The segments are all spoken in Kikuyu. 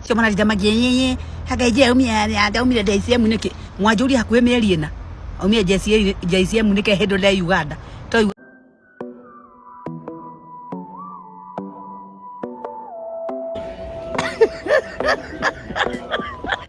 cio mararinda magĩĩ haka ije aumire aumire JCM nĩkĩ mwanjũri hakuhĩ mĩeri ĩna aumire JCM nĩkĩ hĩndĩ ũrĩa Uganda to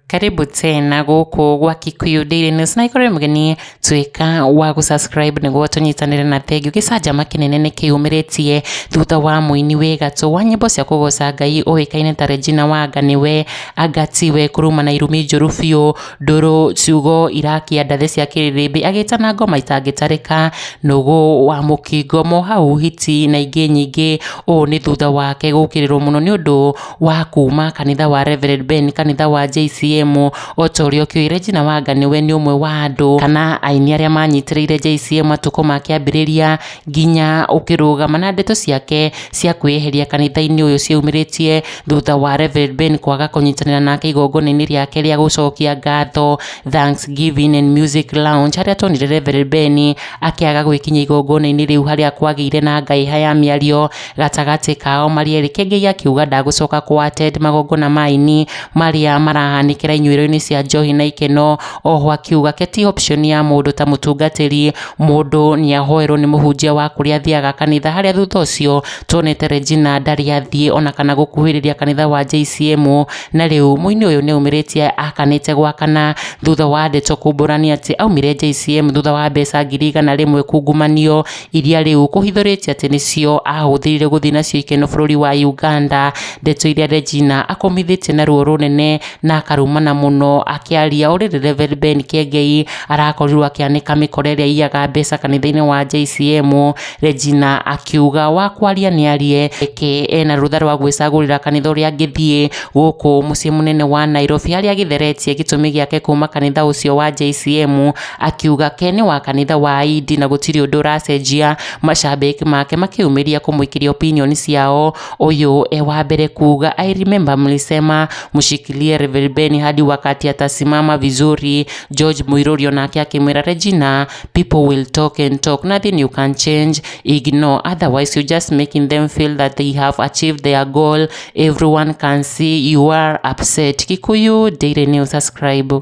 karibu tena gũkũ gwa Kikuyu Daily News na ikorwo mũgeni tuĩka wa gũ subscribe nĩguo tũnyitanĩre na thengiũ gĩcanjama kĩnene nĩ kĩyumĩrĩtie thutha wa mũini wĩ gatũ wa nyĩmbo cia kũgoca ngai ũĩkaine ta Regina Wanga nĩwe angatiwe kuruma na irumi njũru biũ ndũrũ ciugo irakĩa ndathĩ cia kĩrĩrĩmbĩ agĩtana ngoma itangĩtarĩka nũgũ wa mũkingo mohau hiti na ingĩ nyingĩ ũũ nĩ thutha wake gũkĩrĩrwo mũno nĩ ũndũ wa kuma kanitha wa Reverend Ben kanitha wa JCM o ta ũrĩa ũkĩũĩ Regina Wanga nĩwe nĩ ũmwe wa andũ kana aini arĩa manyitĩrĩire JCM matukũ ma kĩambĩrĩria nginya ũkĩrũgama na ndeto ciake cia kwĩyeheria kanitha-inĩ ũyũ ciaumĩrĩtie thutha wa Reverend Ben kwaga kũnyitanĩra nake igongona-inĩ rĩake rĩa gũcokia ngatho Thanksgiving and Music Lounge harĩa tuonire Reverend Ben akĩaga gwĩkinya igongona-inĩ rĩu harĩa kwagĩire na ngahĩha ya mĩario Gatagatĩ kao Marieli Kĩengei akiuga ndagũcoka kũattend magongona ma aini marĩa marahanĩkĩra inyuĩro-inĩ cia njohi na ikeno, oho akiuga ke ti option ya mũndũ ta mũtungatĩri, mũndũ nĩahoerwo nĩ mũhunjia wa kũrĩa athiaga kanitha harĩa thutha ũcio tuonete Regina ndarĩ athiĩ ona kana gũkuhĩrĩria kanitha wa JCM, na rĩu mũini ũyũ nĩaumĩrĩtie akanĩte gwa kana thutha wa ndeto kumbũrania atĩ aumire JCM thutha wa mbeca ngiri igana rĩmwe kungumanio. iria rĩu kũhithũrĩtie atĩ nĩcio ahũthĩrire gũthiĩ nacio ikeno bũrũri wa Uganda, ndeto iria Regina akomithĩtie na ruo rũnene na akarumana mũno akĩaria ũrĩ rĩ Reverend Ben Kĩengei arakorirwo akĩanĩka mĩkora ĩrĩa iyaga mbeca kanitha-inĩ wa JCM, Regina akiuga wa kwaria nĩ arie eke ena rũtha rwa gwĩcagũrĩra kanitha ũrĩa angĩthiĩ gũkũ mũciĩ mũnene wa Nairobi harĩa agĩtheretie gĩtũmi gĩake kuma kanitha ũcio wa JCM Akiuga ke nĩ wa kanitha wa Aindi na gũtirĩ ũndũ ũracenjia. Macambĩki make makĩyumĩria kũmũikĩria opinion ciao. Ũyũ e wa mbere kuuga I remember mlisema mshikilie Reverend Ben hadi wakati atasimama vizuri. George Muiruri onake akĩmwĩra Regina, people will talk and talk, nothing you can change, ignore, otherwise you just making them feel that they have achieved their goal, everyone can see you are upset. Kikuyu Daily News, subscribe.